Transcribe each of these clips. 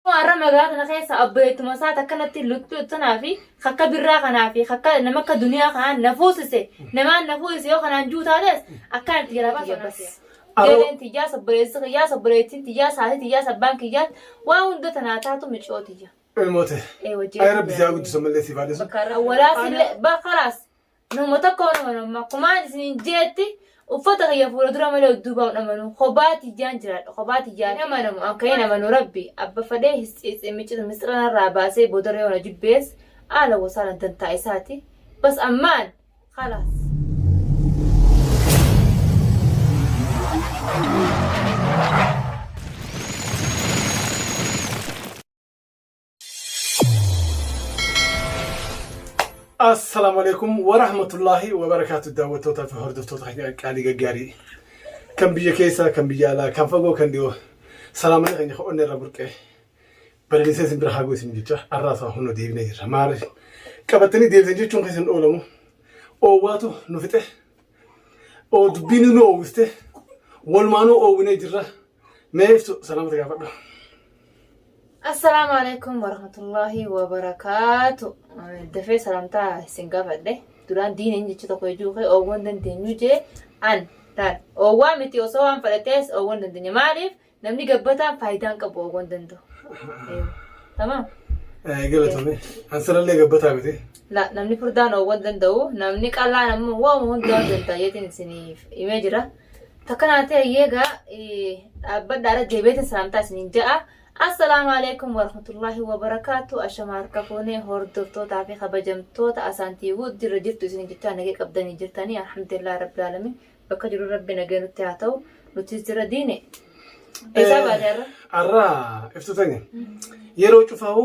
Amma har'a magaalaa tana keessa abboyeettuma isaati akkanatti luttuu tanaa fi kakka birraa kanaa fi kakka nama akka duniyaa kanaan na fuusise namaan na fuusise yoo kanaan juu taates akkan itti jalaa baasu bas. Gareen tiyyaas obboleessi kiyyaas obboleettiin tiyyaas haati tiyyaas abbaan kiyyaas waa hunda tanaa taatu miciyoo tiyya. Ilmoo tee. Ee wajjin. Ay rabbi siyaa guddisu ammallee siif haa dhisu. Awwalaas illee ba kalaas Nama tokkoon amanu amma akkumaan isiniin jeetti uffata kiyya fuula dura malee udduubaa hin amanu kophaa tiyyaan jiraadha kophaa tiyyaa hin amanamu akka hin amanu rabbi abba fadhee miccitu misxira narraa baasee boodarra yoona jibbees aala wasaala dantaa isaati bas ammaan khalaas. Assalaamu alaikum wa rahmatullaahi wa barakaatu daawwattootaa fi hordoftoota keenya qaalii gaggaarii kan biyya keessaa kan biyya alaa kan fagoo kan dhiyoo salaamana keenya kan onnee irraa burqee balaliisee isin bira haaguu isin jecha arraas waa hunda deebinee jirra maarri qabattanii deebisan jechuun kan isin oolamu oowwaatu nu fixe oo dubbiin nu oowwiste walumaanuu oowwinee jirra Mee ibsu salaamata gaafadhu. Assalaamu alaikum warahmatullahi wabarakaatu. Dafee salaamtaa isin gaafadhe. Duraan diina hin jecha tokko ijuu kee oowwan dandeenyu jee an laal. Oowwaa miti osoo waan fudhatees oowwan dandeenya. Maaliif namni gabbataan faayidaan qabu oowwan danda'u. Tamam. Galatoomi. An sanallee gabbataa miti. La namni furdaan oowwan danda'u namni qallaan ammoo waama hundaa danda'a jeetiin isiniif himee jira. Takkanaa ta'e eegaa dhaabbadhaara deebi'eetiin salaamtaa isiniin ja'a. Assalaamu alaikum warahmatullaahi wabarakaatu. Ashama harka fuunee hordoftootaa fi kabajamtoota asaantii wuud jirra jirtu isiniin jechaa nagee qabdanii jirtanii alhamdulillah rabbi alamin bakka jiru rabbi nagee nutti haa ta'u nutis jirra diine. Eessaa baate har'a? Arraa iftuutani yeroo cufaa'u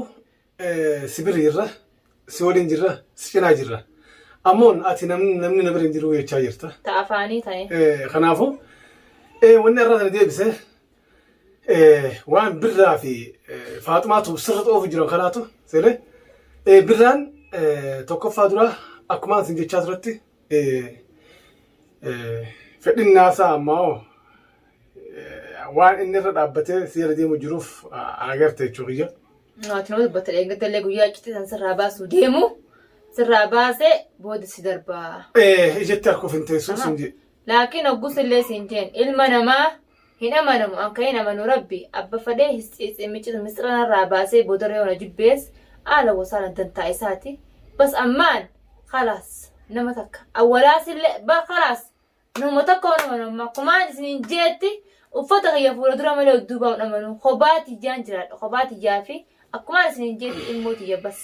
si bira jirra, si waliin jirra, si cinaa jirra. Ammoon ati namni namni na bira hin jiru jechaa jirta. Ta afaanii ta'e. Eh, Kanaafuu eh, wanni irraa sana deebise eh, waan birraa fi eh, faaxumaatu sirra xoofu jiran kanaatu seele eh, birraan eh, tokkoffaa duraa akkumaan sin jechaa turetti eh, eh, fedhin naasaa ammaa hoo waan inni irra dhaabbatee si jala deemu jiruuf ah, agarte jechuu kiyya. Ati nama dubbata dheengadda illee guyyaa iccitii san sirraa baasuu deemu sirraa baasee booda si darbaa. Eh, ijetti akkuf hin teessuu Aha. sin jee. Laakiin oggus illee siin jeen ilma namaa hin amanamu an kan hin amanu rabbi abba fadhee miccitu misxira narraa baasee boodarra yoona jibbees aala wasaana dantaa isaati bas ammaan khalaas nama takka awwalaas illee bar khalaas Nama tokko hin amanu amma akkumaan isiniin jeetti uffata kiyya fuula dura malee udduubaa hin amanu kophaa tiyyaan jiraadha kophaa tiyyaa fi akkumaan isiniin jeetti ilmoo tiyya bas.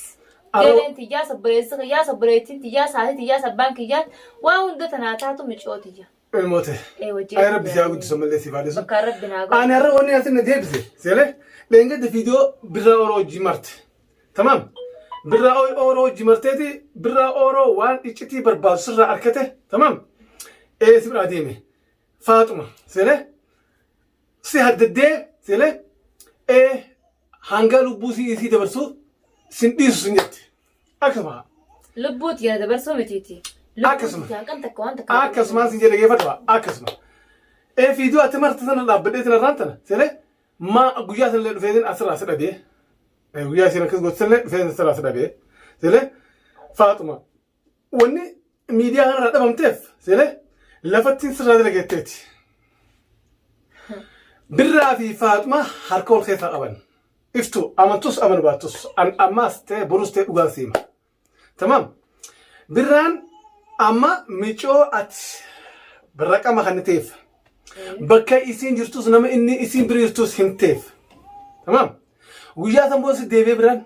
Aroo- Gareen tiyyaa sobboleessi kiyyaa sobboleettiin tiyyaa saatii tiyyaa sabbaan kiyyaa waa hunda tanaa taatu micoo tiyya. Ilmoote. Ee wajjin. Ay rabbi siyaa guddisu ammallee siif haa dhiisu. Bakka rabbi naa Ani godhu. har'a wanni asiin na deebise. Seelee dheengadda viidiyoo birraa oroo hojii marte. Tamam. Birraa ooy ooroo hojii marteeti birraa ooroo waan iccitii barbaadu sirraa arkate tamam. Ee si biraa deeme. Faaxuma sele si haddaddee sele ee hangaa lubbuu si isii dabarsuu sin dhiisu sin jette. Akkasuma Lubbuuti gara dabarsuu mitiiti. Akkasuma. Lubbuuti hanqan takka waan takka. akkasumaan sin jedhe geeffadhu akkasuma. Ee fiiduu ati marti sana dhaabbadhee sana irraan tana sele Ma guyyaa sanillee dhufeetiin asirraa si dhabee. Eh, Guyyaa isiin akkas gootu sanillee dhufeetiin asirraa si dhabee. Seelee Faaxuma wanni miidiyaa kanarraa dhabamteef seelee lafattiin sirraa dalageetteeti. Birraa fi Faaxuma harka wal keessaa qaban. Iftu amantus amanu baattus an ammaas ta'e borus ta'e dhugaan siima. Tamam. Birraan amma micoo ati birra qama kan ta'eef bakka isiin jirtus nama inni isiin bira jirtus himteef. Tamam. Guyyaa san booda si deebi'ee birraan.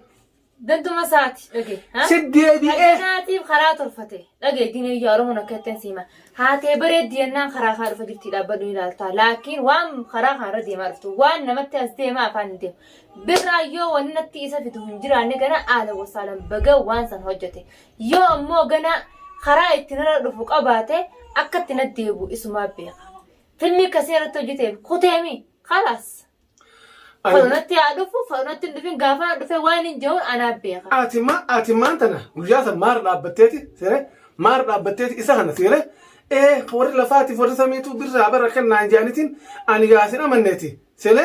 Danduma isaati dhagee. Si deebi'ee. Kanaatiif karaa tolfate dhagee diinee yaa Oromoon akka ittiin siima. Haatee bareeddi yennaan karaa kaa dhufa jirti dhaabbadhu ni ilaalta. Laakiin waan karaa kaarra deemaa dhuftu waan namatti as deemaa afaan hin deemu. birraa yoo wanni natti isa fidu hin jiraanne gana aala wasaalan baga waan san hojjete yoo ammoo gana karaa itti narra dhufu qabaate akka itti na deebu isumaa beeka filmii kasee irratti hojjeteef kuteemi kalaas falonatti haa dhufu falonatti hin dhufin gaafa na dhufe waan hin jehuun anaa beeka Ati ma ati maan tana guyyaa san maara dhaabbatteeti seere maara dhaabbatteeti isa kana seere ee warri lafaatiif warri samiitu birraa bara kennaan jaanitiin ani yaasin amanneeti seere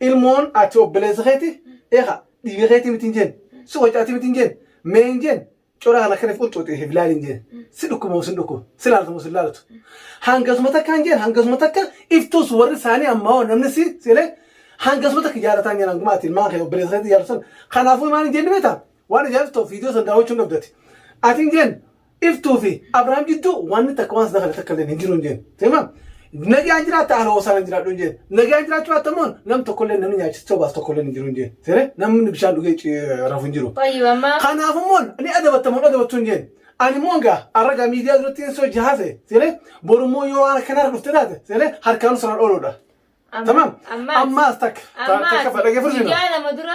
Ilmoon ati obboleessa keeti eeka dhiiga keeti miti hin jeen si wacaati miti hin jeen mee hin jeen cora kana kaniif qulcuuxee hin laali hin jeen si dhukkuba moo sin dhukkuba si laalatu moo sin laalatu hangasuma takka hin jeen hangasuma takka iftuus warri isaanii ammaa hoo namni si sile hangasuma takka jaalataa hin jeen hanguma ati ilmaan kee obboleessa keeti jaalatu sana kanaafuu maal hin jeen ni beektaa waan ajaa'ibsitu ta'u viidiyoo sana daawwachuu hin qabdati ati hin jeen Iftuu fi Abrahaam jidduu wanni takka waan sana kana takka illee hin jiru hin jeen. Seema nagaan jiraatta haala hoosaan hin jiraadhu hin jeen. Nagaan jiraachuu baatta immoo nam tokko illee namni nyaachisee obaas tokko illee hin jiru hin jeen. Seere namni bishaan dhugee ci- rafu hin jiru. Fayyu amma Kanaaf immoo ni adabatta moo hin adabattu hin jeen. Ani immoo egaa har'a egaa miidiyaa duratti hin soji haase. Seere boru immoo yoo waan akkanaa irra dhufte taate seere harkaan siraan ooluudha. Tamam. Ammaas takka. ta- Takka fadhagee fursinoo. Guyyaa lama dura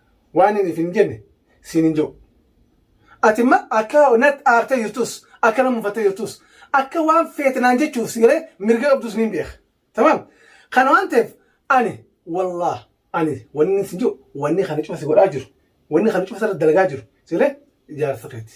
Waan inni isin jenne siin hin je'u. Ati ma akka natti aartee jirtus, akka na mufattee jirtus, akka waan feete naan jechuuf si galee mirga qabdus niin beeka. Tamaam? Kana waan ta'eef ani wallaah ani wannin siin je'u wanni kana cufa si godhaa jiru, wanni kana cufa sirratti dalagaa jiru si galee jaarsa keeti.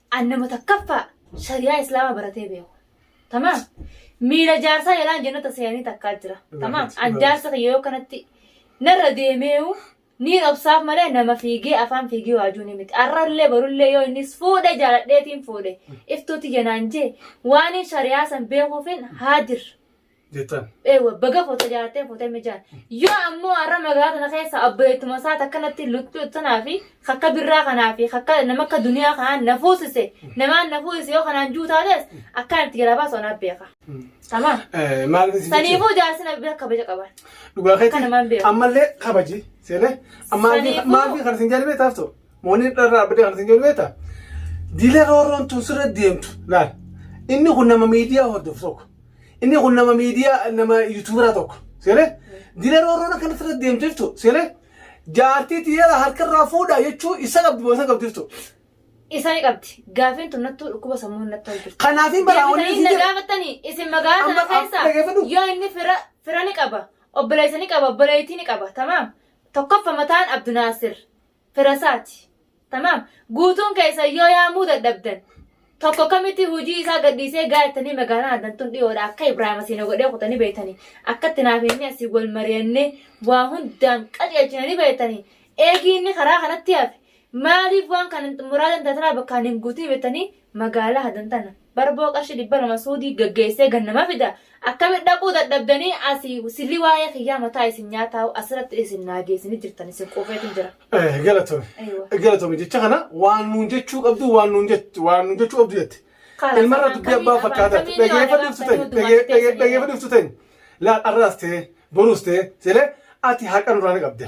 an nama takkaffaa shariyaa islaamaa baratee beeku tamaam miila jaarsaa jalaan jennata seeyanii takkaa jira tamaam an jaarsa kiyya yoo kanatti narra deemeeyu niin obsaaf malee nama fiigee afaan fiigee waajuu ni miti arrallee barullee yoo innis fuudhe jaaladheetiin fuudhe iftuu tiyya naan jee waaniin shariyaa san beekuufin haadir Jetan. Ewa baga foto jaattee foto mijaan. Yoo ammoo har'a magaalaa tana keessa abbeettuma isaati akkanatti luttuu tanaa fi akka birraa kanaa fi akka nama akka duniyaa kanaan na fuusise namaan na fuusise yoo kanaan juu taates akkanatti jalaa baasu anaaf beeka. Tamaa. Maal isin Saniifuu jaarsi na bira kabaja qaban. Dhugaa Akka namaan keetti beeku. ammallee kabaji seenee. Saniifuu- Maal fi kan isin jaalibee taaftu? Mooniin dharraa abdii kan isin jedhu beektaa? Dila roorroon tun sirra deemtu laal. Inni kun nama miidiyaa hordofu tokko. Inni kun nama miidiyaa nama yuutuubaraa tokko. Seeree? Dila roorroon akkana sirra deemtu jirtu. Seeree? Jaartii tiyyaa harkarraa fuudhaa jechuu isa qabdi moo isa qabdi jirtu. Isa ni qabdi. Gaafiin tun nattuu dhukkuba sammuun nattuu hojjetu. Kanaafin baraa wanni Deebitanii isin na jedhu. gaafattanii isin magaalaa Amma- sana amma dhaggeeffadhu. keessa yoo inni fira fira ni qaba obboleessa ni qaba obboleettii ni qaba tamaam tokkoffa mataan Abdu Naasir firasaati. Tamaam. Guutuun keessan yoo yaamuu dadhabdan tokko kamitti hojii isaa gadhiisee gaattanii magaalaan addan tun dhiyoodha akka Ibraahim asiin na godhee kutanii beektanii akkatti naaf inni asii wal mari'annee waa hundaan qajeelchinanii beektanii eegii inni karaa kanatti hafe maaliif waan kana muraadan tatanaa bakkaan hin guutin beektanii Magaalaa hadan tana barboo qarshii dhibba lama suudii gaggeessee gad nama fida akkamitti dhaquu dadhabdanii asi silli waa'ee kiyyaa mataa isin nyaataa'u asiratti isin naa geessanii jirtan isin quufeetin jira. Eh, galatomi. Aywa. Galatomi jecha kana waan nuun jechuu qabdu waan nuun jett- waan nuun jechuu qabdu jette. Kaala, Ilmarra afaan dubbii abbaa kamiin- fakkaataa afaan kamiin dhageeffa waan dhiftu afaan tani kamiin dhagee- dhagee- dubbatti dhaggeeffa dhiftu tani laal arraas ta'e boruus ta'e jedhee ati haqa nurraa ni qabda.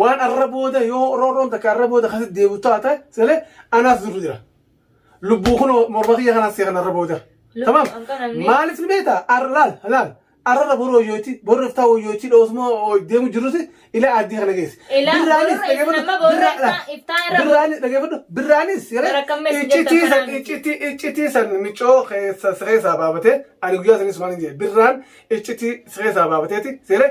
Waan arra booda yoo roorroon takka arra booda akkasitti deebi'u taate sele anaas durru jira. Lubbuu kun morma kiyya kanaan seekan arra booda. Lubbuu Tamam. kan kanan ni- Maaliif ni beekta? Arra laal laal. Arrarra boru hoyyootti boru iftaa hoyyootti dhoosuma deemu jirruti ila aaddii kana geesse. Ila Birraanis borru dhaggeeffadhu. nama borru Birraa- iftaa- laal. iftaa irra borru. Birraanis dhaggeeffadhu. Birraanis yeroo Gara kam meessi jettan iccitii san kanaan? iccitii iccitii san micoo keessa siree isaa baabatee ani guyyaa sanis maal hin jedhe birraan iccitii siree isaa baabateeti seeree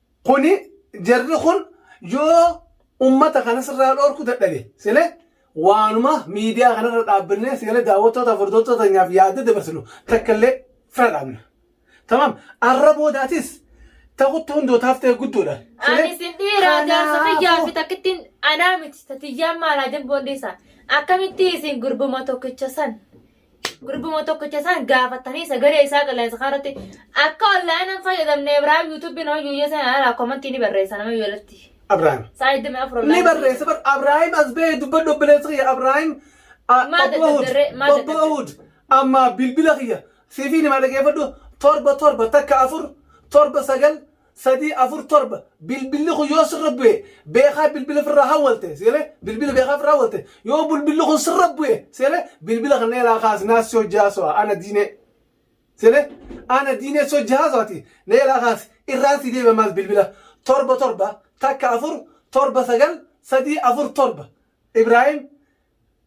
Kuni jarri kun yoo ummata kana sirraa dhoorku dadhabe sile waanuma miidiyaa kanarra dhaabbannee sile daawwattoota furdoottota teenyaaf yaadda dabarsinu takka illee fira dhaabna. Tamam arra boodaatis takutti hundootaaf ta'e guddoodha. Sile Ani sin dhiira jaarsa kiyyaa fi kanaafuu takkittiin anaa miti tatiyyaan maalaa jabboondeessa akkamitti isin gurbuma tokkicha san Gurguma tokkicha isaan gaafatanii sagalee isaa qilleensa kanarratti akka onlaayinaan fayyadamne Ibraahim yuutuubii nama yuuyyee seenaa irraa komantii ni barreessa nama yuuyyee irratti. Abrahaam. Sa'a 24 Ni online. barreessa bar Abrahaam as ba'ee dubbadhu obboleessa kiyya Abrahaam a- Maal obbo Ahud dadhabdarree? Maal obbo dadhabdarree? Ahud amma bilbila kiyya siifii nima dhageeffadhu torba torba takka afur torba sagal 3 4 7 bilbilli kun yoo sirra bu'e beekaa bilbila firraa hawwalte seelee bilbila beekaa firraa hawwalte yoo bilbilli kun sirra bu'e seelee bilbila kan neelaa kaasnaa si hojjaa so'a ana diinee seelee ana diinee si hojjaa so'ati neelaa kaas irraan si deebi'a maas bilbila torba torba takka afur torba sagal sadii afur torba Ibraahim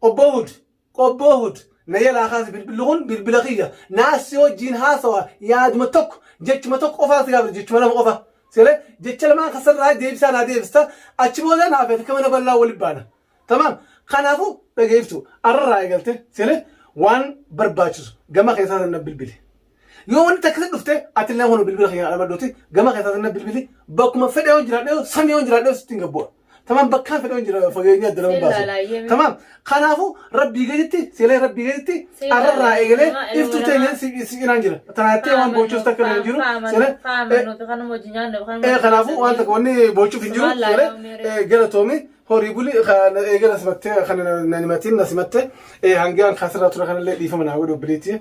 obbo Hud Qobboo Hud, na jalaa kaasi bilbilli kun bilbila kiyya. Naa si wajjiin haasawa yaaduma tokko, jechuma tokko qofaa si gaafadha jechuma lama qofa. Seelee jecha lamaan kan sirraa deebisaa naa deebista achi booda naa fi ati akka mana bal'aa wali baana. Tamaam. Kanaafuu dhaga'i iftuu. Arrarraa eegaltee seelee waan barbaachisu gama keessaatiin na bilbili. Yoo wanti takka sitti dhufte ati illee hunu bilbila kiyya dhaabadhuuti gama keessaa sinna bilbili bakkuma fedhe yoo jiraadhe samii yoo jiraadhe sittiin gabbu'a. Tamam bakkaan fedhe yoo jira fageenya adda nama baasu. Tamam kanaafu rabbii gaditti seelee rabbii gaditti arrarraa eegalee iftuu teenya si cinaan jira. Tanaattee waan boochuus takka hin jiru. Seelee ee kanaafu waan takka wanni boochuuf hin jiru. Seelee galatoomi horii buli eegala simattee kan na himatiin na simattee hangaan kaasirraa ture kanallee dhiifama naa godhu biliitii.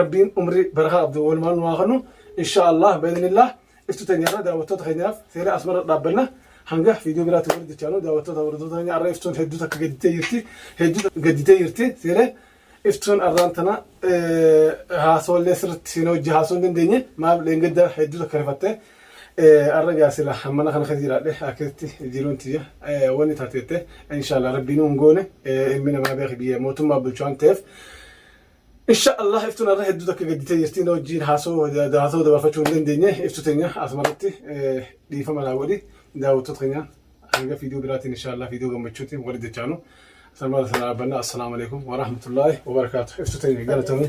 Rabbiin umrii barakaa qabdu walumaan nu haa kennu. Inshaa Allah bi'idhnillaah iftuu teenya irra daawwattoota keenyaaf seenaa asuma irra dhaabbanna. Hanga viidiyoo biraatiin walitti dechaanu daawwattoota hordoftoota keenya har'a iftuun hedduu takka gadditee jirti. Hedduu takka gadditee jirti. Seenee iftuun har'aan tana haasawallee sirriitti seenee hojii haasawuu hin dandeenye. Maaf dheengadda hedduu takka rifatte. Arra gaa sila mana kana keessa jiraadhe akkasitti jiruun tiyya wanni taate jette inshallah rabbiin hin goone ilmi namaa beeki biyya mootummaa bulchu waan ta'eef inshallah iftuun arra hedduu takka gadditee jirti na wajjiin haasoo haasoo dabarfachuu hin dandeenye iftu teenya asumarratti dhiifama naa godhi daawwattoota keenya hanga fiidiyoo biraatiin inshallah fiidiyoo gammachuutiin wali dachaanu sanbata sana dhaabbanna assalaamu alaikum warahmatullaahi wabarakaatu iftu teenya galatamuu